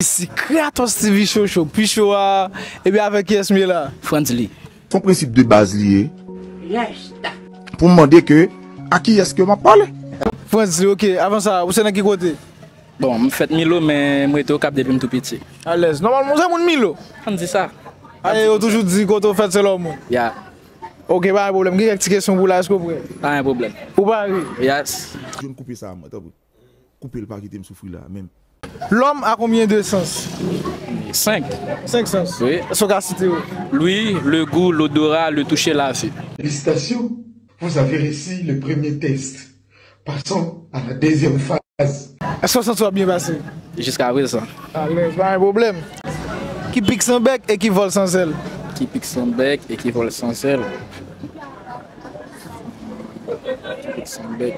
Mesi kratos ti vi cho cho pu show a ebyen avek kiyes m ye la. Frantzly. Son prensip de baz li ye. Rasta. Pou m mande ke a kiyes ke map pale. Frantzly ok avan sa ou se nan ki kote. Bon m fet milo men m rete okap depi m tou piti. Alèz. Nomalman ou se moun milo. An di sa. Ae yo toujou di kote ou fet se la ou mouri. Ya. Ok pa gen pwoblem gen kek ti kesyon pou w la eske ou pre. Pa gen pwoblem. Ou pare. Yes. John koupe sa a mwen tanpri. Koupel pa kitem soufri la menm. L'homme a combien de sens? 5. 5 sens. Est ce ou ka site yo? L'ouïe, le goût, l'odorat, le toucher, la vue. Félicitations vous avez reussi le premier test passons à la deuxième phase. Èske w santi w ap byen pase? Jiska prezan. Alèz, pa gen pwoblèm. Ki pik san bèk e ki vòl san zèl? Ki pik san bèk e ki vòl san zèl? Ki pik san bèk.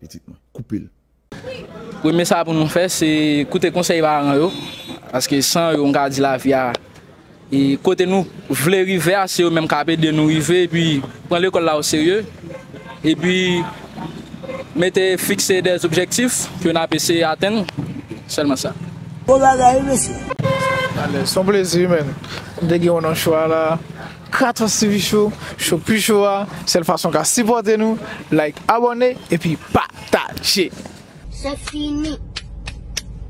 pitit mwen. Koupe l. Premye sa pou nou fè se koute konsèy paran yo, paske san yo m ka di lavi a e kote nou vle rive a se yo menm kap ede nou rive epi pran lekòl la o serye epi mete fikse dè objektif ke nap eseye atenn sèlman sa. Bon bagay wi mesye. Son plezi man. M te gen yon nan chwa la. Kratos TV show, show pi cho a, sèl fason ka sipòte nou, like abòne epi pataje. Sexy me.